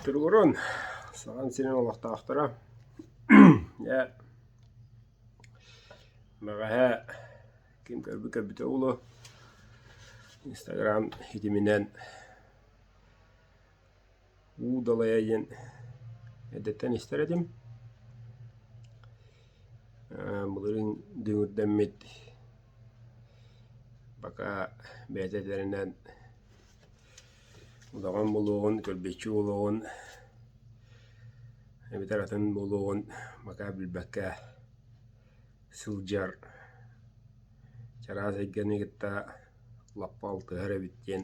Туругурун, саҕан сирин олохтоохторо, я бэҕэһээ ким көрбүт көрбүтэ улу Инстаграм хитиминэн уу далайа диэн эдэттэн истэр этим. Былырыын дүҥүрдэммит пока бэйэтэ этэринэн удаҕан буолуоҕун, көлбүччү буолуоҕун, эбэтэр атын буолуоҕун пока билбэккэ сылдьар. Чараас эйгэни кытта лаппа алтыһар эбит диэн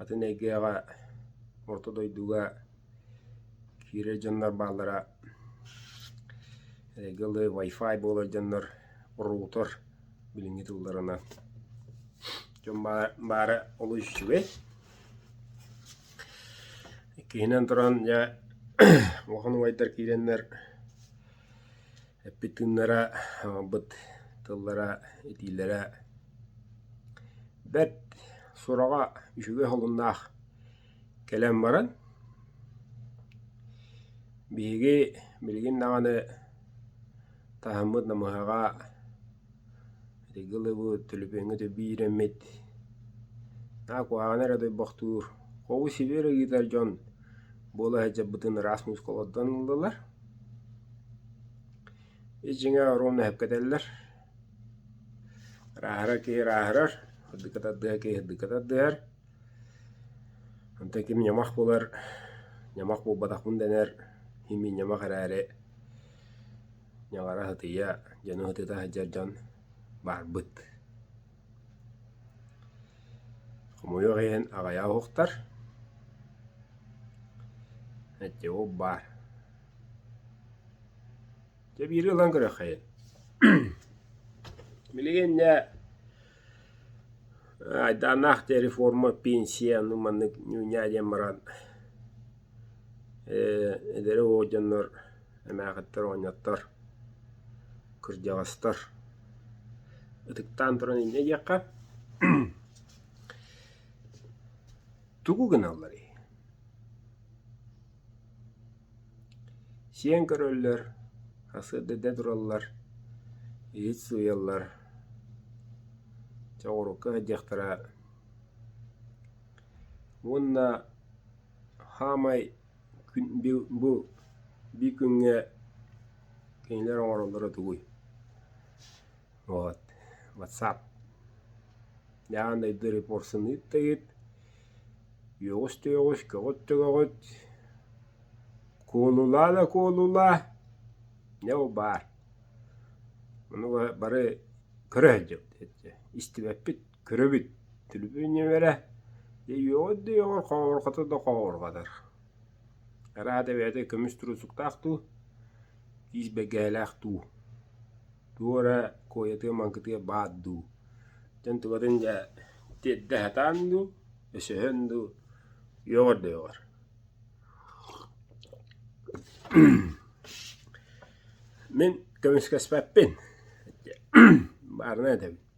Атын эйгэҕэ, орто дойдуга киирэр дьоннор бааллара эйгэ ылы Wi-Fi буолар дьоннор роутер билиҥҥи тылларына дьон баара олус үчүгэй. Иккиһинэн туран дьэ улахан убайдар киирэннэр Эппитиннэрэ аҕалбыт тыллара, этиилэрэ бэрт сураҕа, үчүгэй холуннаах кэлэн баран, биһиги билигин даҕаны таһыммыт намыһаҕа ыллыбыт, төлөпүөҥҥэ биэрэммит, куһаҕаны эрэ ойбохтуур, хоҕу сибиэрэ ыытар дьон буола сылдьарбытын ыраас мускулаттан ыллылар. Дьиҥэ оруом эһэпкэтэллэр, ырааһыра киһи ырааһырар, ырдыка тардыһа киһи ырдыка тардыһар. Онтон ким ньамах булар, ньамах буолбатахпын дэнэр, имиин ньамах эрээри ньаҕара сытыйа, дьону сытыта сылдьар дьон барбыт. Хомойуох иһин аҕыйах уһуктар, эдьиий уһук баар. Дьэ биири ылан көрүөххэйин. Билигин дьэ айдааннаах диэн реформа пенсия аны маннык ньууньаа диэн баран эдэр оҕо дьоннор Эмээхиттэр оонньоттор, кырдьаҕастар. Ытыктаан туран инньэ диэххэ тугу гыналларый? Сиэн көрөллөр, сарсыарда тураллар, иһит сыыйаллар, чэ оҕуруокка сылдьыахтара уонна хаамай Бу биир күҥҥэ кинилэр оҥороллоро тугуй? Вот ватсап Яан дойду репорсын ыыттыгыт, үөҕүс-төйөҕүс, көҕүт-төҕөҕүт, куолулаа да куолулаа, дьэ бу баар. Ону бары көрө сылдьабыт, истибэппит. Көрөбүт, телевидениелэрэ үөҕүөр да үөҕэр хоһоорхото да хоһоорҕотор. Араата бэйэтэ көмүс туруусуктаах дуу, киис бэргэһэлээх дуу, тугу эрэ куойатыа-маҥкытыа баар дуу, дьон тубатын да тиэрдэ сатаан дуу, өсөһөн дуу үөҕэр да үөҕэр Мин көмүскэспэппин, баарынан этэбин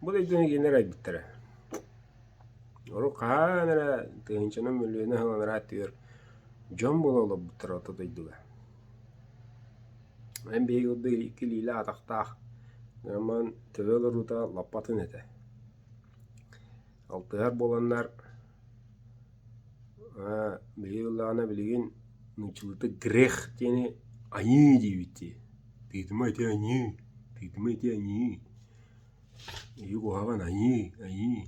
Бу дойдуну кинилэр айбыттара. Урут хаһан эрэ тыһыынчанан мөлүйүөнэ сыл анараа өттүгэр дьон була олорбуттара орто дойдуга. Эн биһиги курдук икки илиилэ атахтаах Норман төлө олоруута лаппатын этэ. Алтыһар буоланнар биһиги ыллаҕына билигин нууччалыы грех диэни аньыы диэбит дии. Ты думай ты аньыы, ты думай ты аньыы Ийэ куһаҕан айыы, айыы,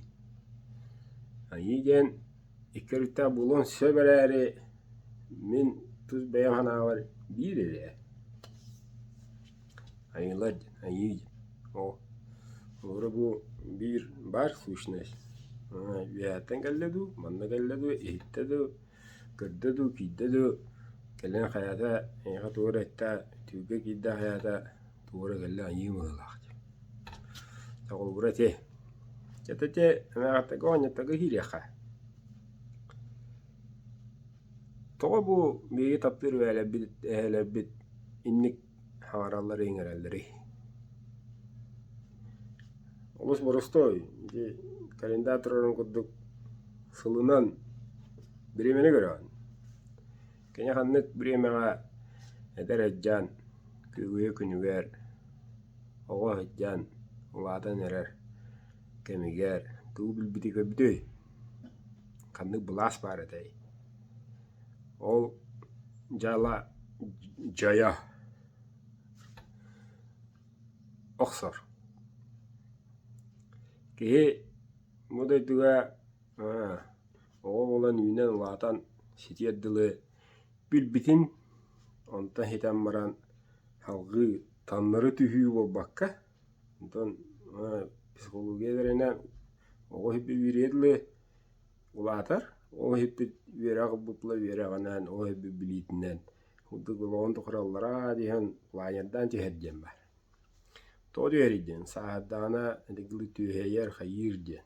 айыы диэн икки өрүттээх буолуон сөп эрээри мин тус бэйэм санаабар биир эрэ айыылар диэн, айыы диэн. Оо, холобура бу биир баар сущность үөһэттэн кэллэ дуу, манна кэллэ дуу, иһиттэ дуу, көрдө дуу, киирдэ дуу, кэлин хайата эйиэхэ тугу эрэ этэ, түөлгэ киирдэ хайата Туора кэллэ айыы быһыылаах дии. Дьэ холобура ити, ити ити эмээхиттэргэ оонньуурдарга киириэххэ. Тоҕо бу биһиги таптыыр эһээлэрбит эһээлэрбит инник хаҥараллары иҥэрэллэрий? Олус боростуой, ити календарь турарын курдук сылынан биримэни көрөҕүн. Кини ханнык бириэмэҕэ эдэр сыдьаан күлүгэ-күнүгэр, оҕо сыдьаан улаатан эрэр кэмигэр тугу билбитий көрбүтүй? Ханнык былаас баар этэй? Ол дьыала дьойо охсор. Киһи бу дойдуга Оҕо буолан үүнэн улаатан ситиэр дылы билбитин онто иһитэн баран салгыы таннары түһүү буолбакка онтон психология үөрэнэн оҕо үһүппүт дылы улаатар ол үһүппүт үөрэх бутула үөрэҕинэн ол үһүппүт билиитинэн курдук олоҕун тухары ыллараа диһэн улаанньардаан түһэр диэн баар. Тоҕо түһэрий диэн сааһырдаҕына ити тылы түөһэйэр хайыыр диэн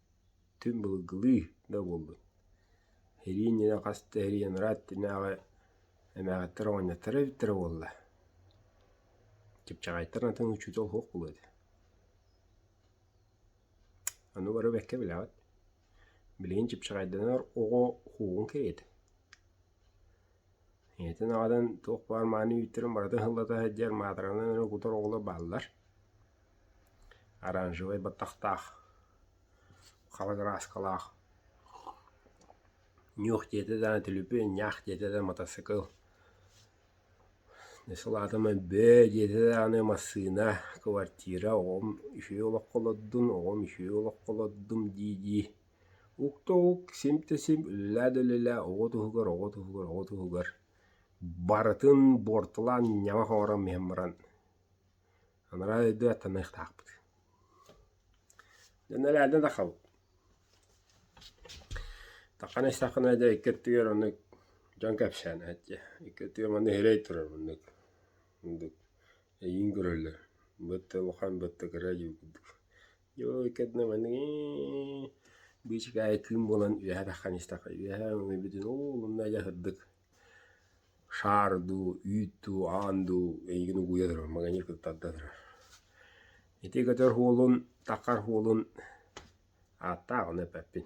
Түҥ былыргылыы да буоллун, ириэнньэнэ хас да ириэньэрэ аттынааҕы эмээхиттэр оҕонньотторо эбиттэрэ буолла, чыпчаҕайдар атын учуутал суох буолуо этэ, аны бары бэккэ билэҕит, билигин чыпчаҕайданар оҕо уһуоҕун кэриэтэ ийэтин аҕатын туох баар мааны үүттэрин барыта ыһыллата сылдьар маатаранан эрэ кутар оҕолор бааллар оранжевай баттахтаах хабар ырааскалаах нюх диэтэ да түлүпү ньаах диэтэ да матасыкыл сылаатым өбөө диэтэ да аны массыына квартира оҕом үһүө олоххо олордун оҕом үһүө олоххо олордум дии-дии Укта ук сим-да-сим, үлэлээ да үлэлээ, оҕо туһугар, оҕо туһугар, оҕо туһугар барытын буортулаан ньамах оҥорон иһэн баран анараа өйдүү аттаныахтаахпыт. Дьэ нэлээдэ да хабыт. Такана истэххинэ дьэ икки өттүгэр оннук дьон кэпсээн эһэтчи. Икки өттүгэр манна иһирэй турар муннук. Мундук эйиин көрөллөр. Бытты улахан бытты кыра дьиу курдук. Дьой, кэннэ маныы быычык аайы кыым буолан үөһэ таххан истэххэ үөһэ өҥөбүтүн улунна дьаһырдык шаар дуу, үүт дуу, аан дуу эйигин угууйа турар маганьыыр кытта тарда турар. Ити көтөр уолун, такар уолун ааттаах ону эппэппин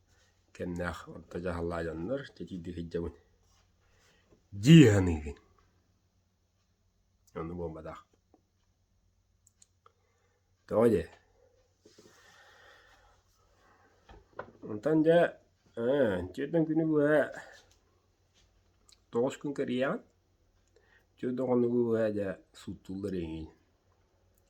кэмнээх орто дьаһаллаах дьоннор титийди сылдьабын дии саныыгын онно буолбатах тоҕо дии онтон дьэ ээ иччиэтин күнү быһа тоҕус күн кэрийэҕин иччиэтин хонугу быһа дьэ суттуллар эҥин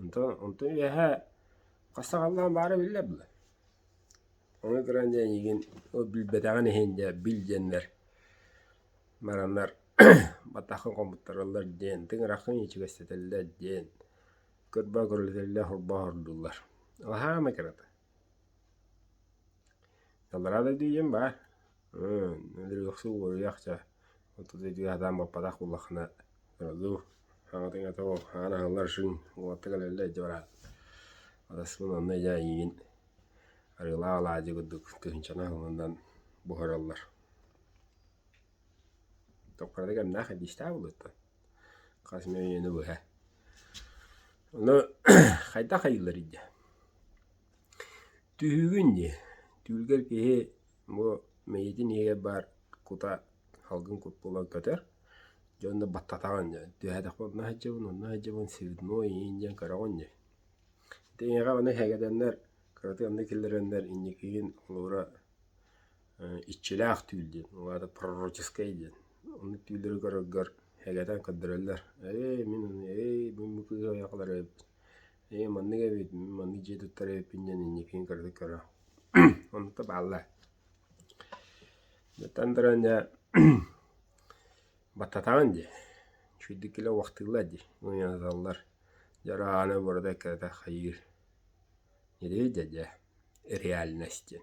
Онтон онтон үөһээ хас саҥалаан баара биллэр дуо? Ону көрөн дьэ эйигин ол билбэтэҕин иһин дьэ бил диэннэр бараннар батаххын хомуттараллар диэн тыҥыраххын ичигэстэтэллэр диэн көрбө көрүлэтэллэр хорбооһордууллар. Алаһаа эмэ кырата. Аллараа дойду ийэм баар ырыахсыт уоруйах ча отут ыйдыы сатаан баппатах буллаххына ордук хаҥатыҥ ата ол хаан аһыллар шыҥ уоттук өлөллөр ити бараат атаспын онно дьэ эйиигин арыылаах алаадьы курдук тыһыынчаны аһыллынан буһараллар токкорадыы кэмнээх эдиистээх буолуоттан хас эмэ үйэни быһа. Ону хайдах айыылларый дии? Түһүүгүн дии. Түүлгэр киһи бу мэйиитин иһигэр баар кута, салгын кут буолан көтөр. Дьон да баттатаҕын дии. Түһээтэхпэ онно сылдьабын, онно сылдьабын, свидно, иин диэн көрөҕүн дии. Ити эйиэхэ аны сэгэтэннэр, кыратык аны киллэрэннэр инникигин холобура Иччилээх түүл диэн, ол аата пророческай диэн. Онно түүллэри көрөргөр элэтэн көрдөрөллөр. «Ээй, мин аны, ээй, мин бу кыыһы айахлара эбиппин, ээй, маннык эбит, мин маннык дьиэ туттара эбиппин» диэн инникитин кыратык көрө. Оннукта бааллар. Оттон Таранньа баттатаҕын дии, үчүгэйдик кэлэ убахтыыллар дии, мунньанаталлар. Дьэ араана барыта кэрэтэ хайыыр. Ньирии дьэ, дьэ, реальность диэн.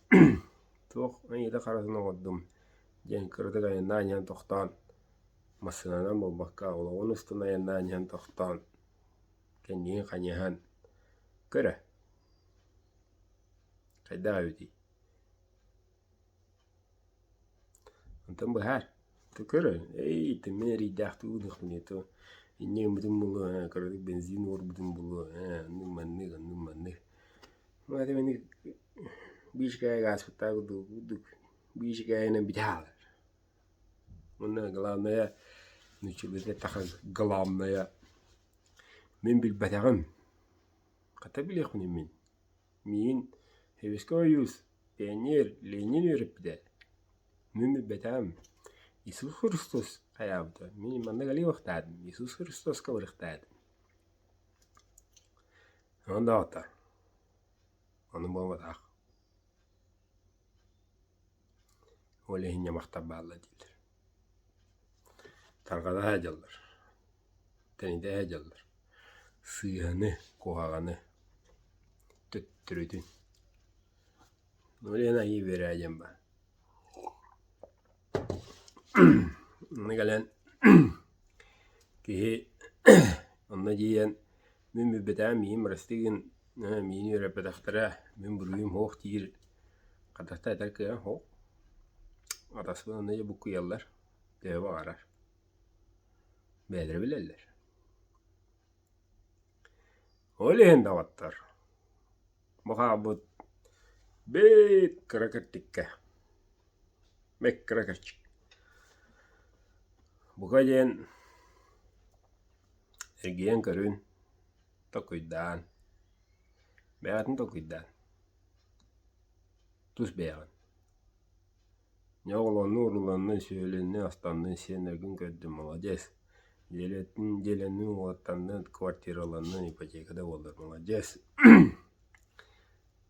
Туох айыыта-харатын оҥордум диэн кыратык айаннаан иһэн тохтоон, массыынанан буолбакка олоҕун устун айаннаан иһэн тохтоон, кэннигин хайыһан «Көрө, хайдах эбитий?» Онтон быһаар, ты көрөн, эй, ты мин эрэйдээхтик ылыахпын ийэ, то инньэ гыммытым буолуо, э, кыратык бензин уорбутум буолуо, э, оннук маннык, оннук маннык. Аты мин биир икки ааспыттаах курдук биир иккиһинэн бүтэ хаалар. Уонна главное нууччалыыта таха главное мин билбэтэҕим. Хата билиэхпин мин Миин, Сэбиэскэй ойуус, пионер Ленин үөрэппитэ, мин билбэтэм Иисус Христос хайаабыта, мин маннык ылыйыахтаатым Иисус Христоска ылыахтаатым Онон да оттор, ону буолбатах Ол иһин ньамахтар бааллар дииллэр. Тарҕата садьаллар, тэнитэ садьаллар. Сыыһаны, куһаҕаны, төттөрүтүн. Ол иһин айыы биэрэрэ диэн баар. Аны кэлэн киһи онно тиийэн мин билбэтэҕим миигин бырастыы гын Ээ, миини өрөппөтөхтөрө мин буруйум суох диир хатахта этэр кыаҕым суох. Атаспын аны буккуйаллар, төһө баҕарар. Бэйэлэрэ билэллэр. Ол иһин доҕоттор, бу хаалбыт бит кыра киртиккэ, бик кыра кирчик. Бука диэн эргийэн көрүн. Толкуйдаан, бэйэҕитин толкуйдаан, тус бэйэҕин. Дьэ оҕолонну-урууланны, сүөлөннү, останны, сиэннэргин көрдүн, маладьыас. Дьиэлэрин, дьиэлэрин уҥуохтанны, квартираланны, ипотека да буоллар маладьыас.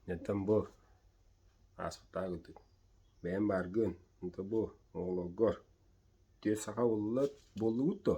Дьэттэн бу ааспыттаагытын, бэйэҥ бааргын, онто бу оҕолоргор түө саха буллат, буоллугут дуо?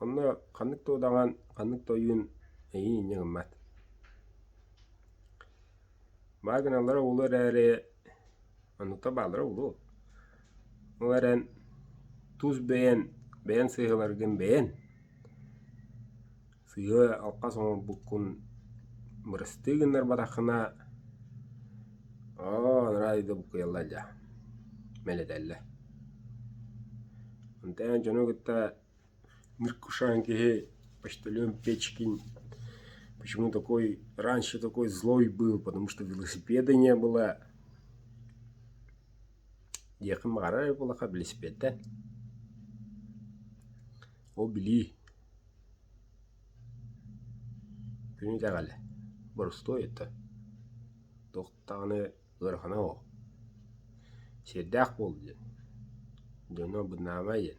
Онно ханнык да удаҕан, ханнык да ойуун эйиин инньэ гыммат. Баа гыналлара улуу эрээри, оннуктан бааллара улуу. Ол эрэн тус бэйэн, бэйэн сыыһаларгын бэйэн, сыыһа алхас оҥорбуккун бырастыы гыннарбатаххына, оо, анараа өйдө буккуйалла дьа, мэлэтэллэ. Онтон эн дьону кытта Неркушаем киһи почтальон Печкин почему такой раньше такой злой был потому что велосипеда не было диэхим аҕарар буоллахха велосипедта ол билии күнү итэҕэлэ борустуой оттон туох даҕаны ыарахана оо сиэрдээх буол диэн дьоно бынаамай диэн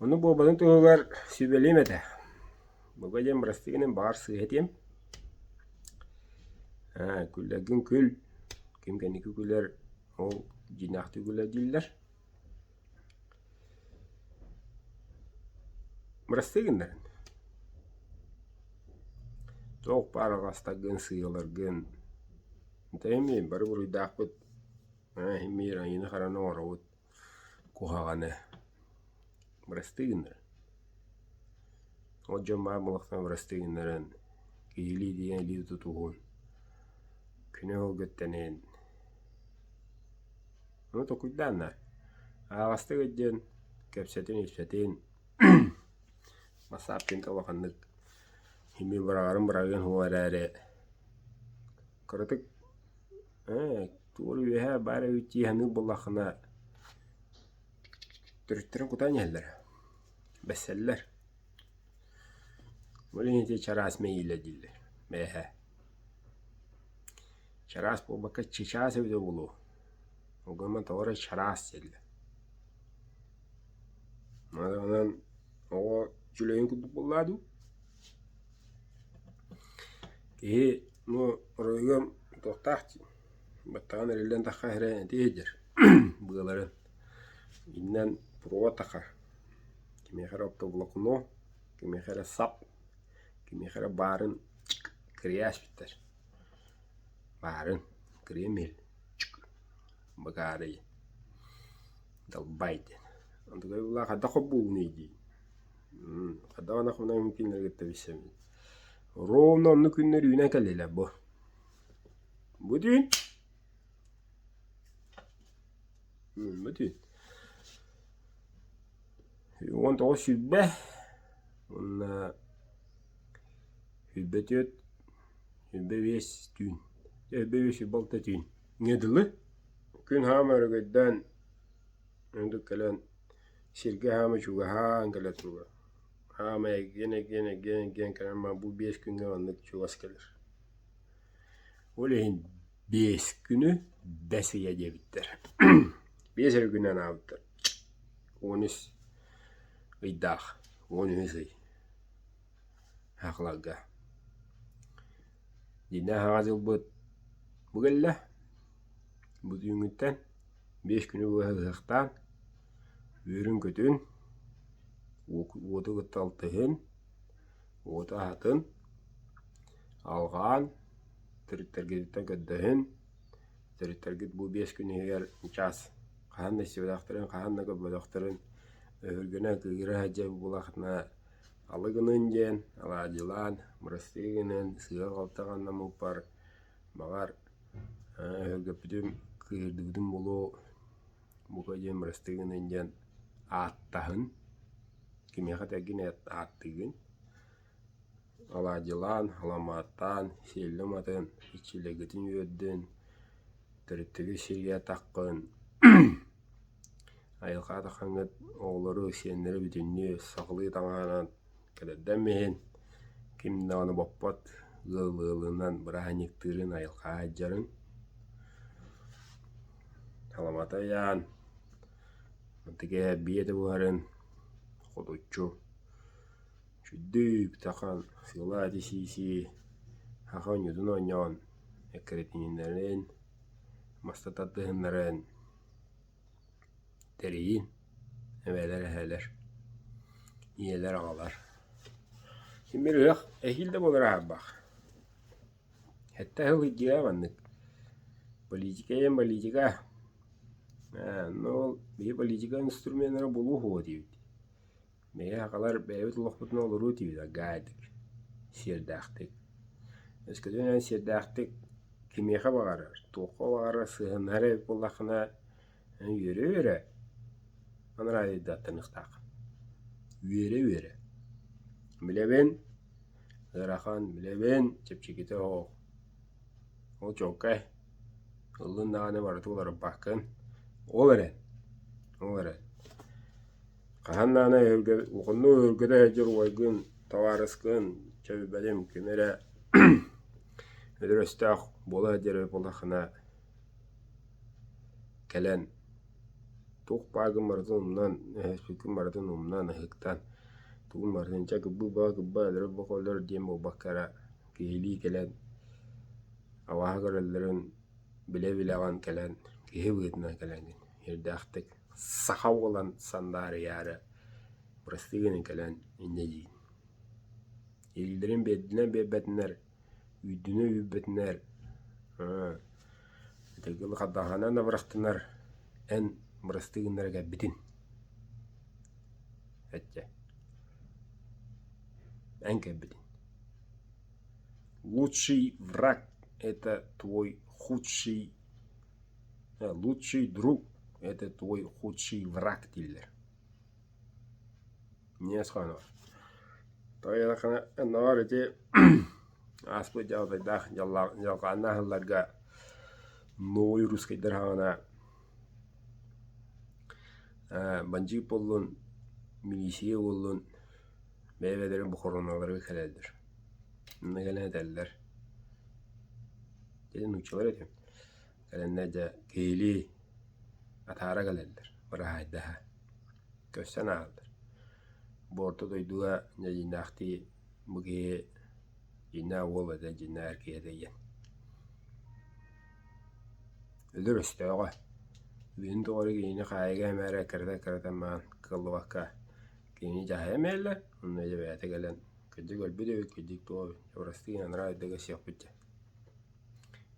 Ону буобаны туһугар сүбэлиэм этэ. Бука диэн бырастыы гынан баҕар сыыһатыам. Күллэргин күл, ким кэнники күлэр, ол дьиҥнээхтик күлэр дииллэр. Бырастыы гыннаран. Туох баар аҕастаргын, сыыйаларгын, бүтэһимиин бары буруйдаахпыт, иһимиир, айыыны-хараны оҥоробут. куһаҕаны бырастыы гыннаран ол дьон баар буолахтарына бырастыы гыннаран киһилии диэн илии тутуһун күнү өһүлгүттэниһин ону толкуйдааннар аһаҕастык өйдүөн кэпсэтин-ипсэтин Басапкинка улаханнык эмиэ быраҕарын быраҕыан уол эрээри Кыратык ээ тугу үөһэ баара үүтү иһаныы буоллаххына төрүттэрин кутан иһэллэрэ, бэссэллэр. Ол иһин ити чараас мэйиилэ дииллэр бэйэһэ. Чараас буолбакка чычаас эбитэ буолуо. Ол гынан тоҕо эрэ чараас дииллэр. Онон оҕо үчүгэйин курдук буоллаа дуу? Киһи бу оройуон туохтаах баттаҕын эриллэн таххаһа эрэ ити иһдьэр быаларын иннэн провод аха кимиэхэ эрэ оптоволокно кимиэхэ эрэ сап кимиэхэ эрэ баарын кырьяаччыттар баарын кырьям иһил быгаарыйын далбай диэн онтукай былаах хайдах хоббуулунуй дии Даҕаны хонон күннэри кытта билсэбин. Ровно оннук күннэр үүнэн кэллилэр бу. Бу түүн бу түүн уон тоҕус сүүрбэ уонна сүүрбэ түөрт сүүрбэ биэс түүн сүүрбэ биэс сүүрбэ алта түүн ҥэ дылы күн хаама өрөгөйдөөн кэлэн Сиргэ саамай чугаһаан кэлэ туруо. Саамай эргийэн, эргийэн, эргийэн, эргийэн кэлэн баран бу биэс күҥҥэ маннык чугас кэлэр. Ол иһин биэс күнү бэс ыйа диэбиттэр. Биэс эрэ күнү анаабыттар. Уон үс ыйдаах, уон үһүс ый ахларга. Дьиҥнээх Аҕа дьылбыт бу кэллэ. Бу түүҥҥүттэн биэс күнү быһа ыһыахтаан, үөрүн-көтүн, уоту кытта алтыһын, уоту аһатын, алҕаан, төрүттэргититтэн көрдөһүн. Төрүттэргит бу биэс күн иһигэр чаас хаһан да истибэтэхтэрин, хаһан да көрбөтөхтөрүн өһүргэнэ, кыыһыра сылдьар буоллаххына алы гыныын диэн алаадьылаан, бырастыы гыныан, сыыһа-халты ханна мууппар, баҕар, Өһүргэппитим, кыыһырдыбытым буолуо, бука диэн бырастыы гыныан диэн ааттаһын, кимиэхэ да эргин ааттыыгын. Алаадьылаан, аламааттаан, сиэллэм атын, иччилэргитин үөрдүн, төрүттэргит сиргэ таххын, айылҕа атаххаҥҥыт оҕолору, сиэннэри бүтүннүү сахалыы таҥаһынан Кэлэрдэн иһин ким даҕаны боппот ыал ыалынан бырааһынньыктыырын, айылҕаҕа айдьарын. Аламата ыйаан, ытык эһэ эбии этэ буһарын хотуччу чуйдуу бүтэн силаати-сии-сии саха оонньуутун оонньоон эккирэтииннэрин, маста тардыһыннаран Тэрийиим, эбээлэр эһээлэр, ийэлэр аҕалар. Мин бөлүһүөк эһиил да буолар аһарбаах. Хэтте сыл ыйдыа маннык политика ийэм политика э ну ол биһи политика инструменнара булуу уо диэбит Meie аҕалар бэйэбит олохпутуна олоруу тиийбитэ гаайдык, сиэрдээхтик. Өскөтүнэн сиэрдээхтик кимиэхэ баҕарар, туохха баҕарар сыһыаннаһар эбит буоллаххына үөрэ-үөрэ анараадыйдаттаныахтаах. Үөрэ-үөрэ. Билэбин, ыарахан, билэбин, чэпчэкитэ оһох. Ол чуолкай ыллыын даҕаны барыта уларыппаккын. Ол эрэн, ол эрэн. Хаһан даҕаны эһэлгэ ухуннук өһүргэтэ сылдьар убайгын, табаарыскын, чэбибэлим ким эрэ өдүрөстөөх буола сылдьар эбит буоллаххына кэлэн туох бааргын барытын умнан, өһөспүккүн барытын умнан, ыһыктан тугун барытын чэ кырбыы баҕа кырбаа өлөрө баҕа өлөр диэн буолбакка эрэ киһилии кэлэн абааһы көрөллөрүн билэ-билэҕин кэлэн киһи быһыытынан кэлэҥҥин Эрдээхтик саха уолан сандаарыйаары бырастыы гынан кэлэн инньэ диин: Илиилэрин биэрдинэр биэрбэтинэр, үүрдүнэ үүрбэтинэр, итинки лахардааханан да бырастынар эн бырастыы гыннара кэлбитин эчэ эн кэлбитин. Лучший враг это твой худший лучший друг это твой худший враг дииллэр эмиэ хоно тоойуохана оннооҕор ити ааспыт дьалатайдаах дьалхааннаах сылларга новый русскайдар саҕана бандьыыт буоллун милиция буоллун Бэйэлэрин бохоруонналарыгар кэлэллэр. Инна кэлэн этэллэр: «Дьэ нууччалар этим, кэлэннэр дьэ киһилии атаара кэлэллэр, быраһаайдаһа». Көрсөн ааһаллар. Бу орто дойдуга дьэдьиэннээхтии бу киһи дьиэннээх уол этэ, дьиэннээх эр киһи этэ диэн. Өлөр өстөөҕө. Үйэтин тухары кинини хаайыга эмээрэ кырата-кырата маан кыаллыбакка Кини дьаһайа мэллэ уонна дьэ бэйэтэ кэлэн кырдьык өлбүт эбит кырдьык туох эбит дьэ бырастыы гынан араара эрдэ көрсүөхпүт дьэ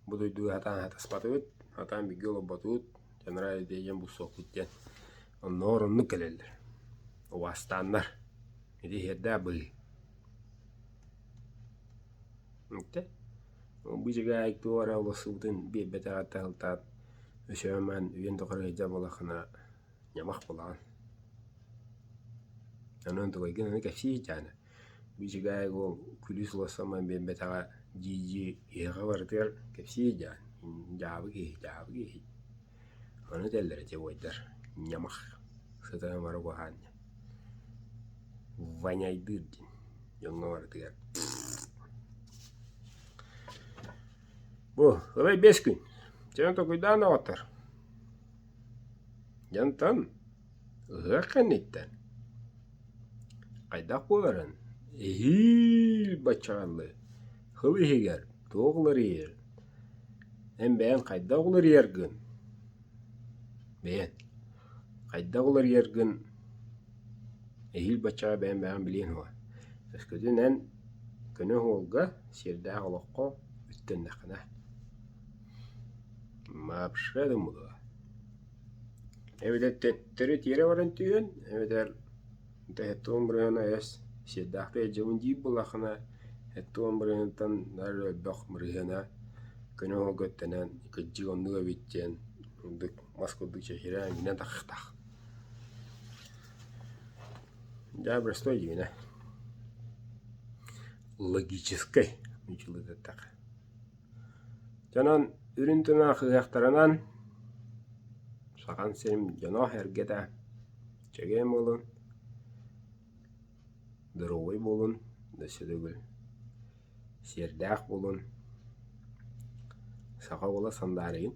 бу дойдуга сатаан сатаспатыбыт сатаан бииргэ олорботубут дьанараа эрдэ дьиэн булсуохпут диэн оннооҕор оннук кэлэллэр убаастааннар ити иһэрдээ быһыы ити бу дьигээй туох эрэ олорсубутун биэрбэтэх атта сылтаан өсөмэн үйэн тухары сылдьар буоллаххына Ньамах былаан. Аны онтукай гынан кэпсии ситиһээнэ. Бичигээс уол күлүү сылассаммын биэрбэтэҕэ дии-дии киһиэхэ барытыгар кэпсии ситиһээн дьаабы киһи, дьаабы киһи. Аны этэллэр ити буойдар ньамах сытарын бары куһаан диэн. Ваняйдыыр диэн дьоҥҥо барытыгар. Бу ылай биэс күн. Чэ онтукуйдаан доҕоттор. Янтан, ыһыах кэнниттэн хайдах буоларын эһиил баччаҕалыы хыл иһигэр туох уларыйар, эн бэйэҥ хайдах уларыйаргын бэйэн хайдах уларыйаргын эһиил баччаҕа бэйэҥ бэйэҕин билиэҥ дуо? Өскөтүн эн көнө оһуолга, сиэрдээх олоххо үттэннэххинэ Маапшка да мула. Эбэтэр төттөрү тиэрэ баран түһэн, эбэтэр эттэ омбрыһына эс сиэрдэхтэ илдьэбин диир буоллаххына, эттэ омбрыһынтан нары өлбөх мырыһыана көнө оһолготтонон кырдьык оннук эбит диэн ордук мас курдук чэчирээн гынан тахыахтаах. Дьэ Брестой дьиҥинэ логическай ньучулук эттэххэ Дьонон үрүн тымах ыһыахтарынан Сахан сирим дьоно эргэтэ чэгиэн буолун, доруобай буолун, өссө да үгүл сиэрдээх буолун, саха уола сандаарыйын